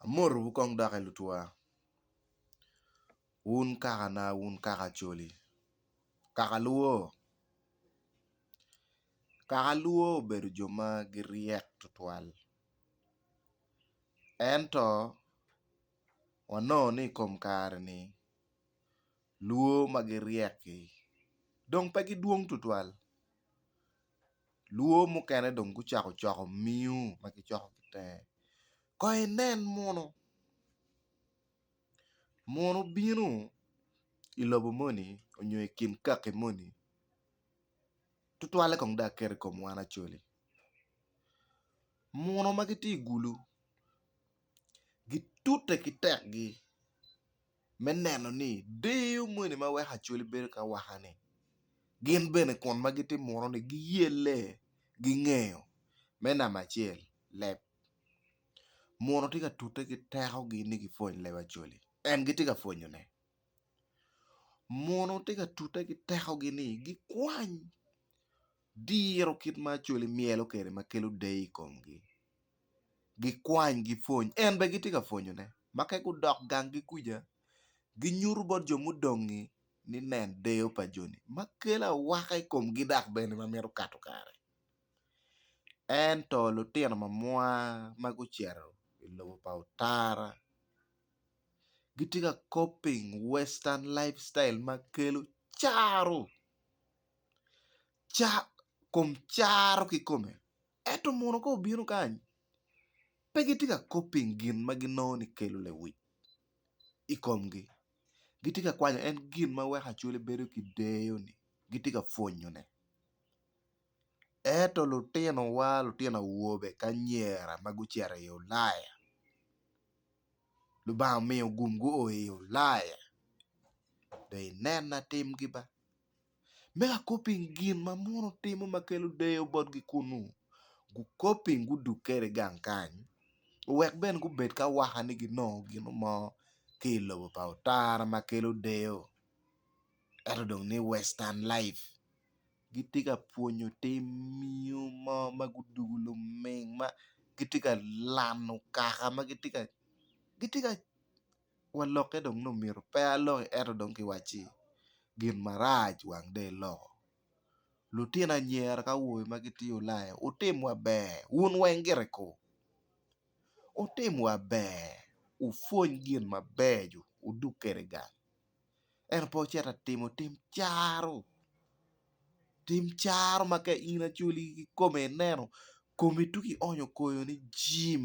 Amotowu kong doki lutwa, wun kakana, wun kaka Acholi, kaka Luo. Kaka Luo obedo jo ma giryek tutwal ento wanongo ni i kom kare-ni Luo ma giryek-ki dong pe gidwong tutwal Lwo mukene dong gucako coko miu ma gicoko ki tenge. Kong inen munu, munu bino i lobo moni nyo i kin kaki moni tutwalle kong dong aket i kom wan acoli. Munu ma gitye i gulu gitute ki tekgi. me neno ni deyo moni ma weko Acholi bedo ki awaka-ni, gin bene kun ma gitimuroni giyelle, gingeyo. Me namba acel, leb. Munu tye ka tute ki tekogi ni gipwony leb Acholi. En gitye ka pwonyone. Munu tye ka tute ki tekogi ni gikwany diro kit ma Acholi myelo kwede ma kelo deyo i komgi. Gikwany, gipwony. En bene gitye ka pwonyone. Ma ka gudok ganggi kuca, ginyuto bot jo mudong-ngi ni, 'Nen deyo pa joni, ma kelo awaka i komgi dok bene ma mito kato kare. Ento lutino ma mwa ma gucito i lobo pa otara gitye ka copying western life style ma kelo caro, kom caro kikome. Ento mono ka obino kany, pe gitye ka kop pi gin ma ginongo ni kelo lewic i komgi. Gitye ka kwanyo en gin ma weko Acholi bedo ki deyo-ni, gitye ka pwonyone. Ento lutinowa, lutino awobe ki anyira ma gucito i Ulaya, Lubanga omiyo gum gua i Ulaya, dong inena timgi ba. me ka kop piny gin ma mono timo ma kelo deyo botgi kunnu, gukop piny gudug kwede i gang kany, wek bene gubed ki awaka ni ginongo gin mo ki i lobo pa Otara ma kelo deyo. Ento dong ni Western Life gitye ka pwonyo tim miyo mo ma gudugu luming ma gitye ka lano kaka ma gitye ka. walokke dong ni omyero pe alongi ento dong kiwacci gin marac wang dong iloko. Lutino anyira ki awobe ma gitye Ulaya wutim wa ber wun weng gire ko wutim wa ber wupwony gin mabeco wudug kwede gang ento pe wucit ka timo tim caro, tim caro ma ka in acwali kikome ineno komi tuk ionyo koyo ni jim.